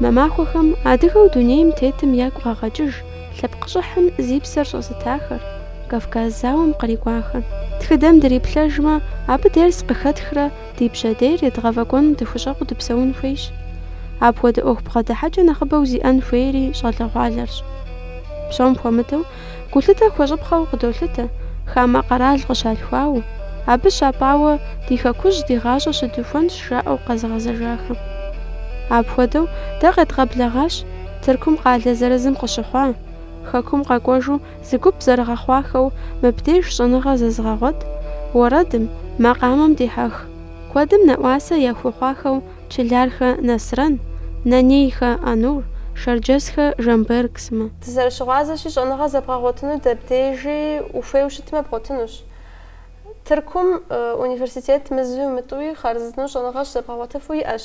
Мы махуэхэм адыгэу дунейм тетым ягу къагъэкӏыж лъэпкъ щӏыхьым зи псэр щӏэзытахэр, Кавказ зауэм кърикӏуахэр. Тхыдэм дриплъэжмэ, абы дерс къыхэтхрэ ди пщэдейр едгъэфӏэкӏуэным дыхущӏэкъуу дыпсэун хуейщ. Апхуэдэ ӏуэху бгъэдыхьэкӏэ нэхъыбэу зиӏэн хуейри щӏалэгъуалэрщ. Псом хуэмыдэу, гулъытэ хуэщӏыпхъэу къыдолъытэ, хамэ къэрал къыщалъхуауэ, абы щапӏауэ ди хэкужь ди гъащӏэ щыдухуэнщ жаӏэу къэзыгъэзэжахэм. Апхуэдэу, дэ къедгъэблэгъащ Тыркум къалэ зырызым къыщыхъуа, Хэкум къэкӏуэжу Зы гуп зэрыгъэхъуахэу мыбдеж щӏэныгъэ зэзыгъэгъуэт, уэрэдым, макъамэм дихьэх, куэдым нэӏуасэ яхуэхъуахэу Чылархэ Насрэн, Нанейхэ Онур, Шэрджэсхэ Жамберг сымэ. Дызэрыщыгъуазэщи, щӏэныгъэ зэбгъэгъуэтыну дэбдежи ухуейу щытмэ, бгъуэтынущ. Тыркум университет мызуи мытӏуи хъарзынэу щӏэныгъэ щызэбгъэгъуэтыфу иӏэщ.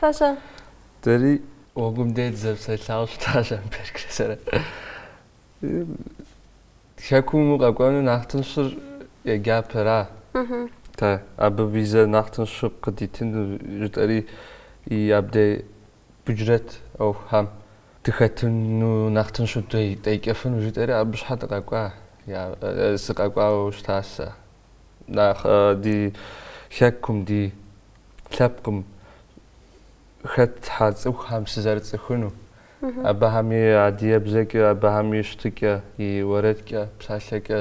Фэ-щэ? Дэри гъуэгум дэ дызэпсэлъауэ щыта Жамбергрэ сэрэ. Хэкум мыу къэкӏуэну нэхъ тыншыр еджапӏэрати, абы визэ нэхъ тыншу къыдитыну жытӏэри и абдей бюджет ӏуэхухьэм дыхэтыну нэхъ тыншу деджэфыну жытӏэри абы щхьэ дыкъэкӏуа, сыкъэкӏуауэ щыта сэ. нэхъ ди хэкум, ди лъэпкъым хэтхьэ цӏыхухэм сызэрыцӏыхуну, абыхэм и адыебзэкӏэ, абыхэм и щытыкӏэ, и уэрэдкӏэ, псалъэкӏэ,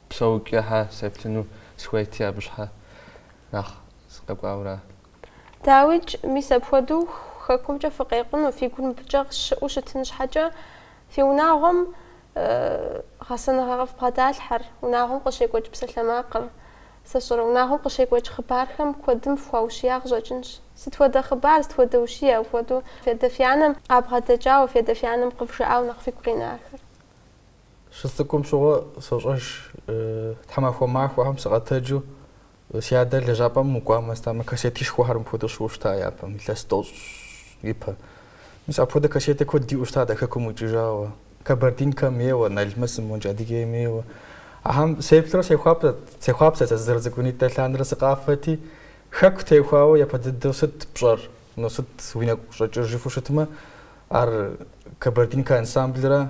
псэукӏэхьэ сеплъыну схуейти абы щхьэ нэхъ сыкъэкӏуауэра. Дауикӏ, мис апхуэдэу хэкумкӏэ фыкъекъуну, фи гур мыбыкӏэ къыщыӏэу щытын щхьэкӏэ, фи унагъуэм гъэсэныгъэ къыфбгъэдалъхьэр, унагъуэм къыщекӏуэкӏ псалъэмакъыр. Сэ сщӏэрэ, унагъуэм къыщекӏуэкӏ хъыбархэм куэдым фхуаущия къыщӏэкӏынщ. Сыт хуэдэ хъыбар, сыт хуэдэ ущие, апхуэдэу фи адэ фи анэм къабгъэдэкӏауэ, фи адэ фи анэм къывжаӏауэ нэхъ фигу къинахэр? Сыцӏыкӏум щыгъуэ сощӏэж, тхьэмахуэ махуэхэм сыкъэтэджу си адэр лэжьапӏэм мыкӏуамэ щытамэ кассетишхуэхэр мыпхуэдэу щыӏэу щыта япэм, илъэс тӏощӏ ипэ. Мис апхуэдэ кассетэ куэд диӏэу щытат а хэкум къикӏыжауэ. Кабардинкэм ейуэ, Налмэсым, модкӏэ Адыгейм ейуэ. Ахьэм сеплърэ сехуапӏэт, сехъуапсэт сэ сызэрыцӏыкӏунитӏэ лъандэрэ сыкъафэти, хэку теухуауэ япэ дыдэу сыт пщӏэр, ну сыт уи нэгу щӏэкӏыр жыфӏэу щытмэ, ар Кабардинкэ ансамблрэ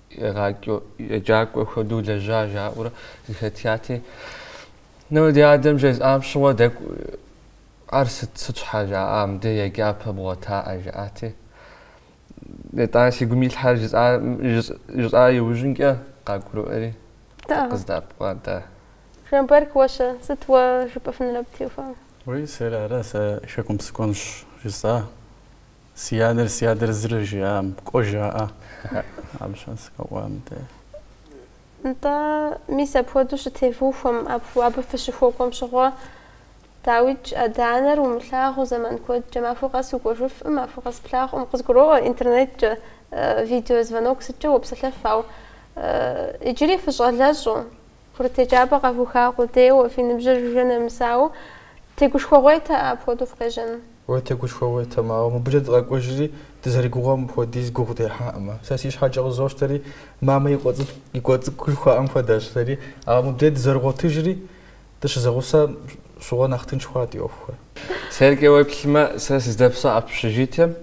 Егъакӏуэ еджакӏуэ хуэдэу лэжьа жаӏэурэ зыхэтяти, ну ди адэм жезӏам щыгъуэ дэкӏу ар сыт сыт щхьэ жаӏа мыдэ еджапӏэ бгъуэтаӏэ жаӏати. Етӏани си гум илъхьэр жысӏа иужьынкӏэ къагурыӏуэри къыздэӏэпыкъуа дэ. Жанберк, уэ-щэ, сыт уэ жыпӏэфынур абы теухуауэ? Уей сэр ара сэ хэкум сыкӏуэнщ жысӏа. Си адэр, си адэр зыри жиӏам, кӏуэ жаӏэ. Абы щхьэ сыкъэкӏуа мыдэ. Нтӏэ, мис апхуэдэу щытевухуэм, абы фыщыхуэкӏуэм щыгъуэ. Дауикӏ, адэ-анэр умылъагъуу зэман куэдкӏэ, махуэ къэс укӏуэжыфӏым, махуэ къэс плъагъуӏым, къызгуроӏуэ интернеткӏэ видео звонок сыткӏэ уопсэлъэф, ауэ иджыри фыщӏалэщӏэу, Курыт еджапӏэ къэвуха къудейуэ, фи ныбжьыр жыжьэ нэмысауэ, тегушхуэгъуейтэ апхуэдэу фыкъежьэну. Уэ тегушхуэгъуейтэм, ауэ, мыбыкӏэ дыкъэкӏуэжри, дызэригугъуэм хуэдиз гугъу дехьакъымэ. Сэ си щхьэкӏэ къызощтэри, мамэ и къуэ цӏыкӏу жыхуаӏэм хуэдэщ сэри. Ауэ мыбдеж дызэрыгъуэтыжри, дыщызэгъусэм щыгъуэ нэхъ тынш хъуат ди ӏуэхухэр. Сэркӏэ уеплъмэ, сэ сыздэпсэу общежитием,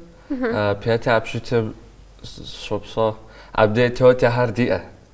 пятэ общежитием сыщопсэу, абдеж тётяхэр диӏэ.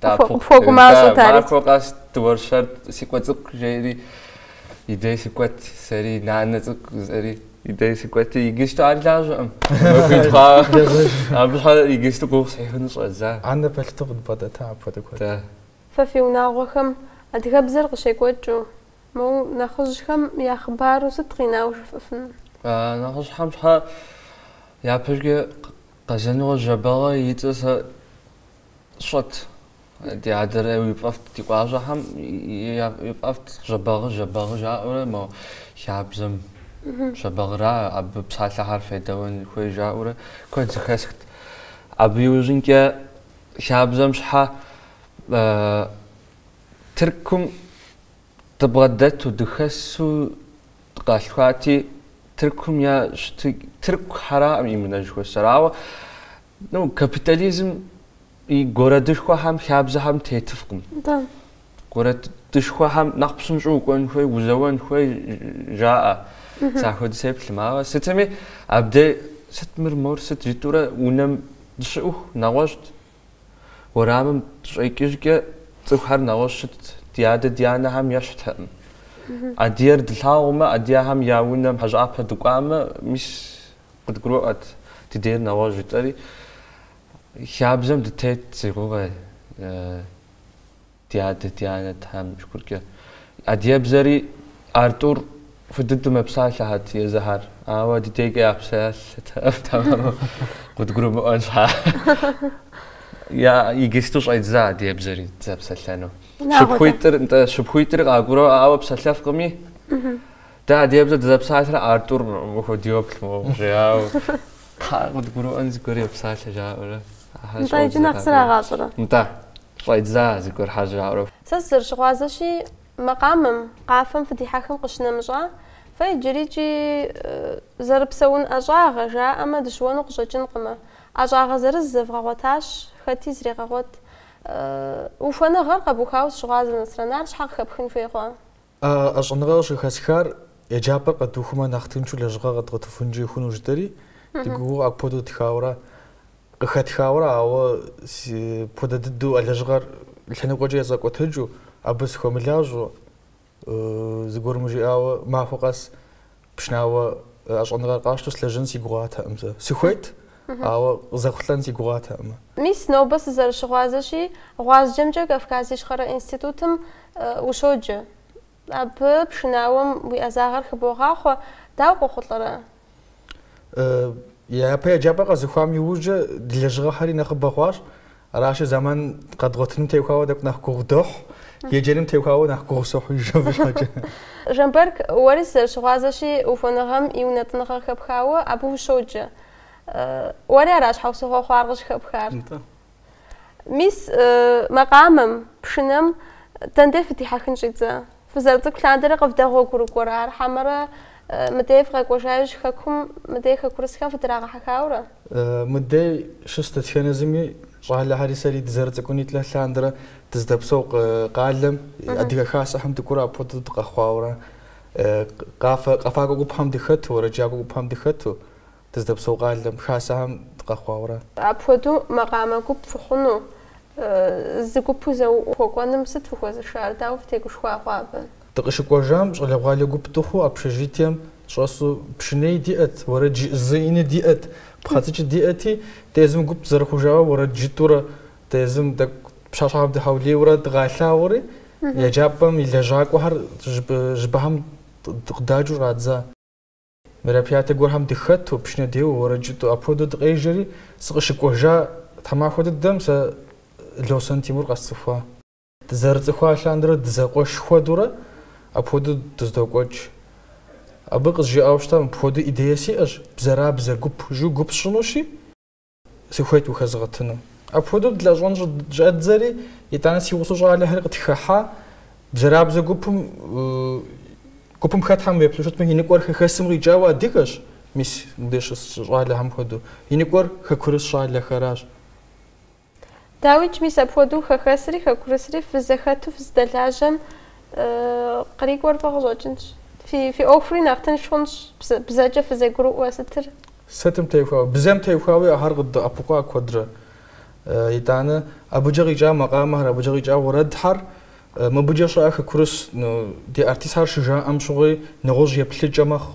Фогу мащӏэт ари. Махуэ къэс дыуэршэрт, си къуэ цӏыкӏу жери и дей сыкӏуэт сэри, нанэ цӏыкӏу жызӏэри и дей сыкӏуэти, иджысту ар лажьэкъым. Абы щхьэ иджысту гугъу сехьыну щӏэздза. Анэ пэлъытэу къыдбгъэдэта апхуэдэ куэд. Фэ фи унагъуэхэм адыгэ хабзэр къыщекӏуэкӏыу, моу нэхъыжьхэм я хъыбару сыт къинауэ жыфӏэфыну? Нэхъыжьхэм щхьэ япэкӏэ Къэзанокъуэ Жэбагъы и цӏэ сэ Щӏэт. Ди адэрэ и фӏэфӏт ди къуажэхэм и фӏэфӏт Жэбагъы, Жэбагъы жаӏэурэ мо хабзэм Жэбагъыра абы псалъэхэр федэӏуэн хуей жаӏэурэ куэд зыхэсхт. Абы иужьынкӏэ хабзэм щхьэ Тыркум дыбгъэдэту, дыхэсу Къалъхуати, Тыркум я щытыкӏэ, тыркухэраӏым и мынэ жыхуэсӏэр. Ауэ, ну, капитализм и городышхуэхэм, хабзэхэм тетыфкъым. Да. Городышхуэхэм нэхъ псынщӏэу укӏуэн хуей, узэуэн хуей жаӏэ. Зэхуэдэ сеплъым. Ауэ сытми, абдей, сыт мыр, мор, сыт жытӏэурэ унэм дыщыӏэху, нэгъуэщӏт. Уэрамым дыщӏэкӏыжкӏэ цӏыхухэр нэгъуэщӏ щытт, ди адэ ди анэхэм ещхьтэкъым. Адыгэр дылъагъумэ, адыгэхэм я унэм хьэщӏапӏэ дыкӏуамэ, мис къыдгурыӏуэт, ди дейр нэгъуэщӏ жытӏэри, хабзэм дытет си гугъэ. Ди адэ, ди анэ Тхьэм и Шыкуркӏэ. Адыгебзэри ар тӏур фӏы дыдэу мэпсалъэхэт езыхьэр. Ауэ ди дейкӏэ япсалъэтэкъым, тэмэму къыдгурымыӏуэн щхьа. Я игисту щӏедза адыгебзэри зэпсэлъэну. Шыпхъуитӏыр, нтӏэ, шыпхъуитӏыр къакӏуэру, ауэ псэлъэфкъыми. Дэ адыгебзэр дызэпсалъэрэ ар тӏур мыхуэдэу йоплъ моуэ жиӏауэ. Тхьэ, къыдгурыӏуэн зыгуэр йопсалъэ жаӏэурэ. Ахэр щӏодзэ къакӏуэру. Нтӏэ, иджы нэхъ зрагъащӏэрэ? Нтӏэ. Щӏедза, зыгуэрхьэ жаӏэурэ. Сэ сызэрыщыгъуазэщи, макъамэм, къафэм фыдихьэхым къыщынэмыщӏа, фэ иджырикӏи зэрыпсэун ӏэщӏагъэ, жаӏэмэ, дыщыуэну къыщӏэкӏынкъымэ. ӏэщӏагъэ зырыз зэвгъэгъуэтащ, хэти зрегъэгъуэт. Ухуэныгъэр къэбухауэ сыщыгъуазэ, Насрэн, ар щхьэ къыхэпхын хуей хъуа? А ӏэщӏэныгъэ къыщыхэсхар еджапӏэр къэдухумэ нэхъ тыншу лэжьыгъэ къэдгъуэтыфынкӏэ хъуну жытӏэри, ди гугъэу апхуэдэу тхауэрэ, къыхэтхауэрэ, ауэ апхуэдэ дыдэу а лэжьыгъэр лъэныкъуэкӏэ езгъэкӏуэтэкӏыу, абы сыхуэмылажьэу, зыгуэрым жиӏауэ махуэ къэс Пшынауэ ӏэщӏэныгъэр къасщтэу слэжьэн си гугъатэкъым сэ. Сыхуейт, ауэ къызэхъулӏэн си гугъатэкъым. Мис, нобэ сызэрыщыгъуазэщи, гъуазджэмкӏэ Кавказ Ищхъэрэ институтым ущоджэ. Абы пшынауэм уи ӏэзагъэр хыбогъахъуэ, дауэ къохъулӏэрэ? Япэ еджапӏэ къэзыхуам иужькӏэ ди лэжьыгъэхэри нэхъыбэ хъуащ. Аращи, зэман къэдгъуэтыным теухуауэ тӏэкӏу нэхъ гугъу дохь, еджэным теухуауэ нэхъ гугъу сохь иджы абы щхьэкӏэ. Жамбэрк, уэри сызэрыщыгъуазэщи, ухуэныгъэм и унэтӏыныгъэр къыхэпхауэ абы ущоджэ. Уэри ара щхьэусыгъуэ хъуар къыщыхэпхар? Нтӏэ. Мис, макъамэм, пшынэм дэндей фыдихьэхын щӏидзэ? Фызэрыцӏыкӏу лъандэрэ къывдэгъуэгурыкӏуэрэ ар, хьэмэрэ мыдей фыкъэкӏуэжа иужь хэкум мыдей хэкурысхэм фыдрагъэхьэхауэрэ? Мыдей щыс дэтхэнэ зыми щӏалэхьэри сэри дызэрыцӏыкӏунитӏэ лъандэрэ дыздэпсэу къалэм и Адыгэ Хасэхэм дыкӏуэурэ апхуэдэу дыкъэхъуауэрэ, къафэ, къэфакӏуэ гупхэм дыхэту, уэрэджакӏуэ гупхэм дыхэту, Дыздэпсэу къалэм, хасэхэм дыкъэхъуауэ ара. Апхуэдэу макъамэ гуп фыхъуну, зы гупу зэхуэкӏуэным сыт фыхуэзышар, дауэ фытегушхуа хъуа абы? Дыкъыщыкӏуэжам, щӏалэгъуалэ гуп дыхъуу общежитием щӏэсу пшыней диӏэт, уэрэд жызыӏэни диӏэт, пхъэцӏыкӏи диӏэти, дэ езым гуп зэрыхъужауэ уэрэд жытӏурэ, дэ езым тӏэкӏу пщащхьэхэм дыхьэулейуэрэ дыкъалъагъури, еджапӏэм и лэжьакӏуэхэр жьыпӏэхэм къыдаджу щӏадза. Мероприятэ гуэрхэм дыхэту, пшынэ деуэу, уэрэд жытӏу апхуэдэу дыкъежьэри, сыкъыщыкӏуэжа тхьэмахуэ дыдэм сэ Лосэн Тимур къэсцӏыхуа. Дызэрыцӏыхуа лъандэрэ дызэкъуэш хуэдэурэ апхуэдэу дыздокӏуэкӏ. Абы къызжиӏауэ щыта, мыпхуэдэу идея сиӏэщ, Бзэрабзэ гуп жу гуп сщӏынущи, сыхуейт ухэзгъэтыну. Апхуэдэу дылэжьэн щӏэддзэри, итӏанэ си гъусэу щӏалэхэр къытхыхьа бзэрабзэ гупым гупым хэтхьэм уеплъу щытмэ, и ныкӏуэр хэхэсым къикӏауэ адыгэщ, мис мыбдеж щыс щӏалэхэм хуэдэу. И ныкӏуэр хэкурыс щӏалэхэращ. Дауикӏ, мис апхуэдэу хэхэсри хэкурысри фызэхэту фыздэлажьэм кърикӏуэр фӏы къыщӏэкӏынщ. Фи фи ӏуэхури нэхъ тынш хъунщ, бзэ бзэкӏэ фызэгурыӏуэ сытыр. Сытым техуауэ? Бзэм техуауи ахэр къыддэӏэпыкъуа куэдрэ. Итӏанэ, абыкӏэ къикӏа макъамэхэр, абыкӏэ къикӏа уэрэдхьэр, мыбыкӏэ щыӏэ хэкурыс, ну, ди артистхэр щыжаӏэм щыгъуи, нэгъуэщӏ еплъыкӏэ мэхъу,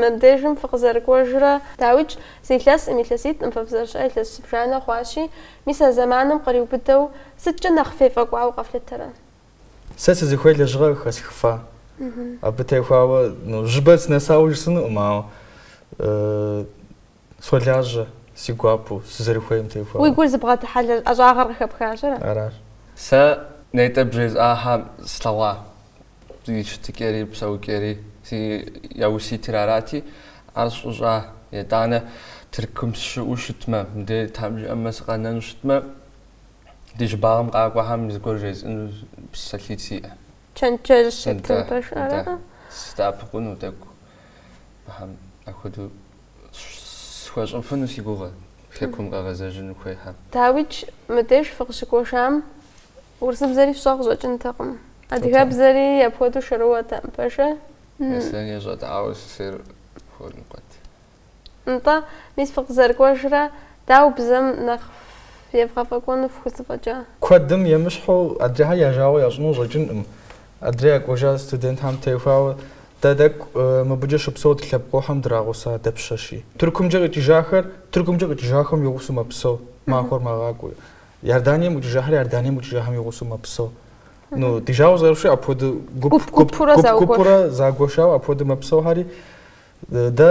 Мыбдежым фыкъызэрыкӏуэжрэ? Дауикӏ, зы илъэсым, илъэситӏым фэ фызэрыщыӏэ илъэс зыбжанэ хъуащи, мис а зэманым къриубыдэу сыткӏэ нэхъ фефӏэкӏуауэ къэфлъытэрэ? Сэ сызыхуей лэжьыгъэр хэсхыфа. Абы техуауэ, ну, жьыбэр сынэсауэ жысӏэнукъым, ауэ Солажьэ, си гуапэу, сызэрыхуейм техуауэ. Уи гур зыбгъэдыхьэ ӏэщӏагъэр къыхэпхащ, ара? Аращ. Сэ нетӏэ бжесӏахьэм слъэгъуа и щытыкӏэри, псэукӏэри, зи яуситыр арати, ар сщӏыщӏа, етӏанэ Тыркум сщыӏэу щытмэ, мыдей Тхьэм жиӏэмэ сыкъэнэну щытмэ, ди щӏыбагъым къакӏуэхэм зыгуэр жесӏэну псалъитӏ сиӏэ. Чэнджэщ щытын пэш, ара? Садэӏэпыкъуну тӏэкӏу Тхьэм апхуэдэу Схуэщӏыфыну си гугъэ, хэкум къэгъэзэжыну хуейхьэм. Дауикӏ, мыбдеж фыкъыщыкӏуэжам урысыбзэри фщӏэ къыщӏэкӏынтэкъым. Адыгэбзэри апхуэдэу шэрыуэтэкъым, пэжа? Аслъэн ещӏэт, ауэ сысейр хуэдэу къэт. Нтӏэ, мис фыкъызэрыкӏуэжрэ, дауэ бзэм нэхъ евгъэфӏэкӏуэну фхузэфӏэкӏа? Куэдым емыщхьу адрейхэр я жагъуэ ящӏыну щӏэкӏынкъым. Адрей къэкӏуэжа студентхэм техуауэ, Дэ тӏэкӏу мыбыкӏэ щыпсэу ди лъэпкъэгъухэм драгъуса дапщэщи. Тыркумкӏэ къикӏыжахэр Тыркумкӏэ къикӏыжахэм и гъусэу мэпсэу, махуэр мэгъакӏуэу. Иорданием къикӏыжахэр Иорданием къикӏыжахэм и гъусэу мэпсэу. Ну, ди жагъуэ зэрыхъущи, апхуэдэу гуп, Гуп-гупурэ гуп, загуэш. гупурэ загуэшауэ апхуэдэу мэпсэухьэри, дэ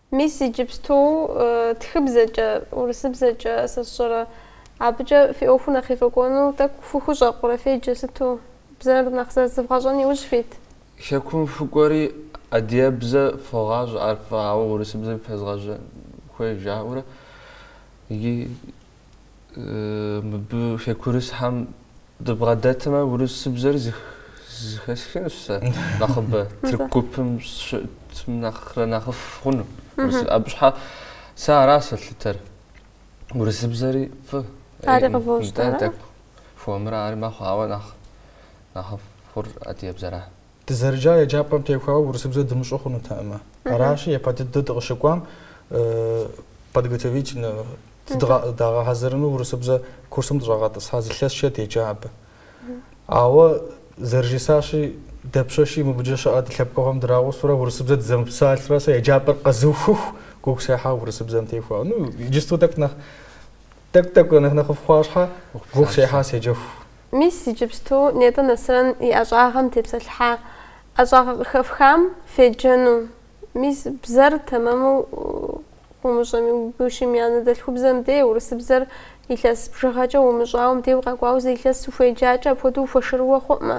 Мис иджыпсту тхыбзэкӏэ, урысыбзэкӏэ сэ сщӏэрэ, абыкӏэ фи ӏуэхур нэхъ ефӏэкӏуэну тӏэкӏу фыхущӏэкъурэ, феджэ сыту? Бзэр нэхъ зэрызывгъэщӏэн иужь фит? Хэкум фыкӏуэри адыгэбзэ фогъащӏэ, ар фӏы, ауэ урысыбзэми фезгъэжьэ хуей жаӏэурэ. Мыбы хекурысхьэм дыбгъэдэтмэ, урысыбзэр зыхэсхынущ сэ нэхъыбэ. Тырку гупым щытым нэхърэ нэхъыфӏ хъуну. Абы щхьэ сэ ара сэлъытэр. Урысыбзэри фӏы. Ари къывощӏ. Дэ тӏэкӏу хуэмурэ ари мэхъу, ауэ нэхъ нэхъыфӏ хъур адыгэбзэра. Дызэрыджа еджапӏэм техуауэ урысыбзэ дымыщӏу хъунутэӏымэ. Аращи, япэ дыдэ дыкъыщыкӏуам подготовительнэ дагъэхьэзырыну урысыбзэ курсым дыщӏагъэтӏысхьа зы лъэсчэ деджа абы. Ауэ зэрыжысӏащи, дапщэщи мыбыкӏэ щыӏэ ди лъэпкъэгъухэм драгъусурэ урысыбзэ дызэмыпсалъурэ сэ еджапӏэр къэзыухыху гугъу сехьа урысыбзэм техуауэ. Ну, иджысту тӏэкӏу нэхъ Тӏэкӏу, тӏэкӏу, нэхъ-нэхъыфӏ хъуа щхьэ, гугъу сехьа седжэху. Мис иджыпсту нетӏэ Насрэн и ӏэщӏагъэм тепсэлъхьа ӏэщӏагъэ къыхэфхам феджэну. Мис бзэр тэмэму умыщӏэми, гушым и анэдэлъхубзэм де, урысыбзэр илъэс бжыгъэкӏэ умыщӏауэм дей укъэкӏуауэ зы илъэс ухуеджакӏэ апхуэдэу ухуэшырыуэ хъуӏымэ,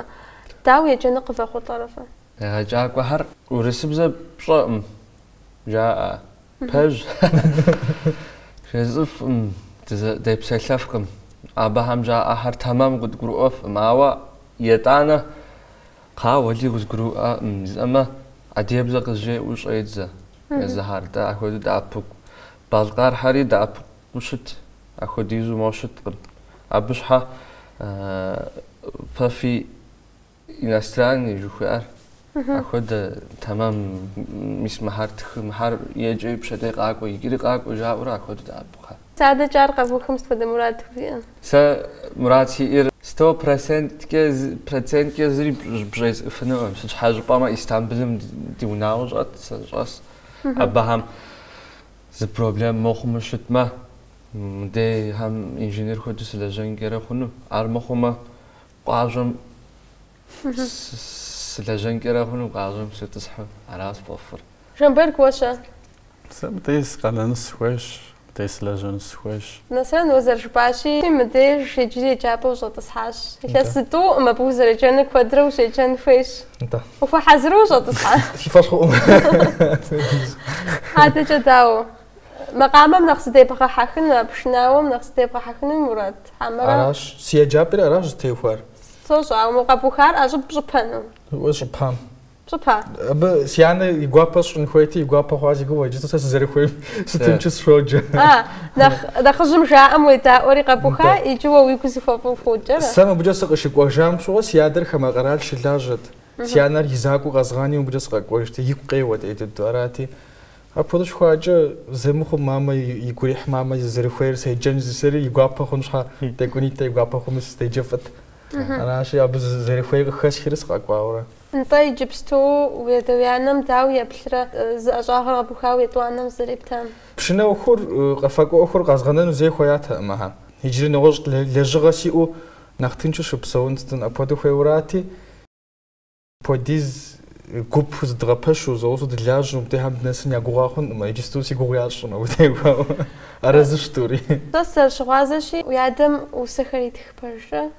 дауэ еджэну къывэхъулӏэрэ фэ? Егъэджакӏуэхэр урысыбзэ пщӏэӏым, жаӏэ. Пэж, жесӏэфӏым, депсэлъэфкъым. Абыхэм жаӏэхэр тэмэм къыдгурыӏуэфкъым, ауэ етӏанэ къауэли къызгурыӏуэкъым, жысӏэмэ, адыгэбзэ къызжеӏэу щӏедзэ езыхэр. Дэ ахуэдэу дэӏэпыкъу. Балъкъэрхьэри дэӏэпыкъуу щыт, ахуэдизу моу щыткъым. Абы щхьэ фэ фи Иностранный жыхуиӏэр апхуэдэ тэмэм мис мыхьэр тхы, мыхьэр еджэи пщэдей къакӏуэ, иджыри къакӏуэ жаӏэурэ апхуэдэу дэӏэпыкъу. Адэкӏэ ар къэвухым сыт хуэдэ мурад фиӏэ? Сэ мурад сиӏэр сто проценткӏэ проценткӏэ зыри бжесӏэфынукъым. Сыт щхьэ жыпӏэмэ Истамбулым ди унагъуэ щӏэт, сэ щӏэс. Абыхэм зы проблем мыхъумэ щытмэ, мыдейхэм инженер хуэдэу сылэжьэнкӏэрэ хъуну. Ар мыхъумэ, Къуажэм сылэжьэнкӏэрэ хъуну, къуажэм сытӏысхьу, ара сфӏэфӏыр. Жамберг, уэ щэ? Сэ мыдей сыкъэнэну сыхуейщ, мыдей сылэжьэну сыхуейщ. Нэсрэн, уэ зэрыжыпӏащи, мыбдеж иджыри еджапӏэ ущӏэтӏысхьащ. Илъэс зытӏуӏым абы узэреджэну, куэдрэ ущеджэн хуейщ. Нтӏэ. Ухуэхьэзыру ущӏэтӏысхьа? Си фӏэщ хъуӏым. Адэкӏэ дауэ? макъамэм нэхъ зыдебгъэхьэхыну, пшынауэм нэхъ зыдебгъэхьэхыну мурад хьэмэрэ? Аращ, си еджапӏэри аращ зытеухуар. Сощӏэ, ауэ мы къэбухар ӏэщӏыб пщӏыпэну? Уэ, сщӏыпам. Пщӏыпа? Абы си анэ и гуапэ сщӏын хуейти, и гуапэ хъуа си гугъэ, иджы сэ сызэрыхуейм сытынчу сщоджэ. А, нэхъ, нэхъыжьым жаӏэм уедаӏуэри къэбуха, иджы уэ уигу зыхуэфӏу ухуоджэрэ? Сэ мыбыкӏэ сыкъыщыкӏуэжам щыгъуэ си адэр хамэ къэрал щылажьэт. Си анэр и закъуэу къэзгъани мыбыкӏэ сыкъэкӏуэжти, игу къеуэт ӏей дыдэу. Арати, Апхуэдэу щыхъуакӏэ зэмыхъум мамэ и гу ирихь, мамэ зэрыхуейр седжэн зысэри и гуапэ хъун щхьэ, тӏэкӏунитӏэ и гуапэ хъуми сыздэджэфӏыт. Аращи, абы зэрыхуейр къыхэсхри сыкъэкӏуауэрэ. Нтӏэ, иджыпсту уи адэ уи анэм дауэ еплърэ, зы ӏэщӏагъэр къэбухауэ етӏуанэм зэрептам? Пшынэ ӏуэхур, къэфакӏуэ ӏуэхур къэзгъэнэну зэи хуеятэкъым, ыхьэ. Иджыри нэгъуэщӏ лэжьыгъэ сиӏэу нэхъ тыншу щыпсэун сытын апхуэдэу хуейуэрати, Пхуэдиз гуп зыдгъэпэщу, зэгъусэу дылажьэу, мыбдехэм дынэсын я гугъа хъункъым, иджысту си гугъу ящӏым абы техуауэ. Арэзыщ тӏури. Сэ сызэрыщыгъуазэщи, уи адэм усэхэр итх пэжрэ?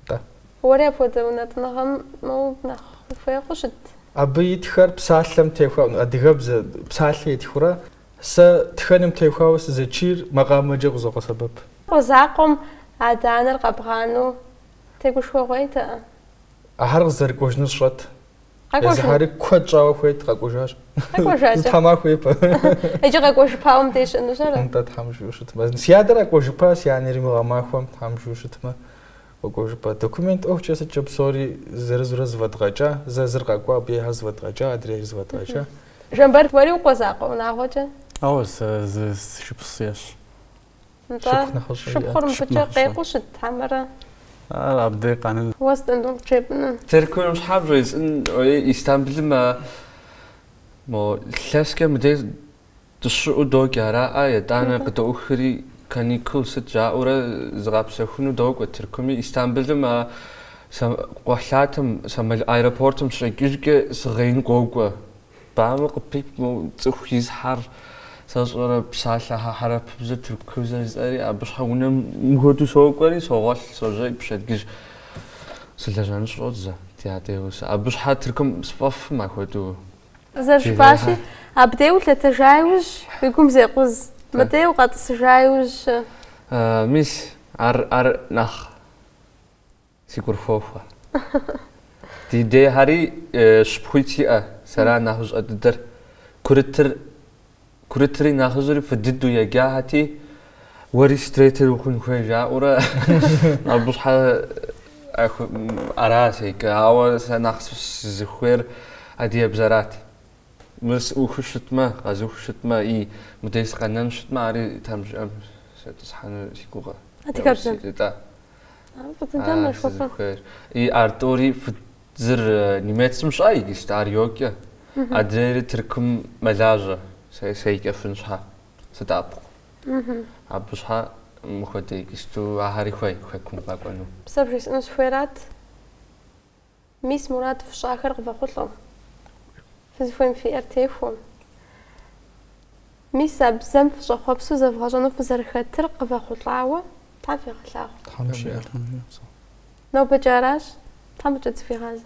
Да. Уэри апхуэдэ унэтӏыныгъэм моуэ нэхъ ухуей хъу щыт. Абы итхэр псалъэм техуауэ, адыгэбзэ, псалъэ итхурэ, сэ тхэным техуауэ сызэчийр макъамэкӏэ къызокъэсэбэп. Къуэ закъуэм адэ-анэр къэбгъанэу Тегушхуэгъуейтэӏэ? Ахэр къызэрыкӏуэжыныр сщӏэт. Къэкӏуэжу. Езыхьэри куэд щӏауэ хуейт, къэкӏуэжащ. Къэкӏуэжакӏэ. Зы тхьэмахуэ ипэ. Иджы къэкӏуэжыпауэ мыбдеж щыӏэнущ ара? Нтӏэ, Тхьэм жиӏэу щытмэ. Си адэр къэкӏуэжыпа, си анэри мы гъэмахуэм, Тхьэм жиӏэу щытмэ, къэкӏуэжыпа. Документ ӏуэхукӏэ сыткӏэ псори зырызурэ зэфӏэдгъэкӏа, зэ зыр къэкӏуа, абы ейхэр зэфӏэдгъэкӏа, адрейр зэфӏэдгъэкӏа. Жамбэрт, уэри укъуэ закъуэ унагъуэкӏэ? Ооу, сэ зы шыпхъу сиӏэщ. Нтӏэ, шыпхъур мыбыкӏэ къекъуу щыт хьэмэрэ? Ар абдей къанын. Уэ сыт нтӏэ къыджепӏэныр? Тыркум щхьэ бжесӏэн ори Истамбылым а мо лъэскӏэ мыдей дыщыӏу докӏ ара а етӏанэ къыдоухри каникул сыт жаӏэурэ зыгъэпсэхуну докӏуэ Тыркуми Истамбылым а кхъухьлъатэм самол аэропортым сыщикӏыжкӏэ си гъеин къокӏуэ Бамэ къыпипӏмэу цӏыху изхьэр сэщӏэрэ, псалъэхьэ хьэрыпыбзэ, тыркубзэ жысӏэри, абы щхьэ унэм мыхуэдэу сокӏуэри, согъуэлъ, сожей, пщэдгыжь сылэжьэну сщӏодзэ, ди адэ и гъусэ. Абы щхьэ Тыркум сфӏэфӏкъым апхуэдэу. Зэрыжыпӏащи, абдей улъэтэжа иужь, уи гум зекъуз, мыдей укъэтӏысыжа иужь-щэ? Мис, ар, ар нэхъ. Си гур хуохуэ. Ди дейхьэри шыпхъуитӏ сиӏэ, сэра нэхъыщӏэ дыдэр. Курытыр, курытри нэхъыжьри фӏы дыдэу еджахэти, уэри стретер ухъун хуей жаӏэурэ, абы щхьэ ара седжэ, ауэ сэ нэхъ сызыхуейр адыгэбзэрат. Мыр сухыу щытмэ, къэзухыу щытмэ, и мыдей сыкъэнэну щытмэ, ари Тхьэм жиӏэм сетӏысхьэну си гугъэ. Адыгэбзэм? Фӏыцӏыкӏам нэшхуэпэ. И а тӏури зыр немецым щыӏэ иджыст, ар йоджэ. Адрейри Тыркум мэлажьэ, седжэфын щхьэ, здэӏэпыкъу. Абы щхьэ мыхуэдэ иджысту ахэри хуей хэкум къэкӏуэну. Сэ бжесӏэну сыхуейрат? Мис мурад фщӏахэр къывэхъулӏэу. Фызыхуейм фиӏэр техуэу. Мис а бзэм фыщӏэхъуэпсу зэвгъэщӏэну фызэрыхэтыр къывэхъулӏауэ Тхьэм фигъэлъагъу. Тхьэм жиӏэ. Нобэкӏэ аращ. Тхьэм фӏыкӏэ зыхуигъазэ.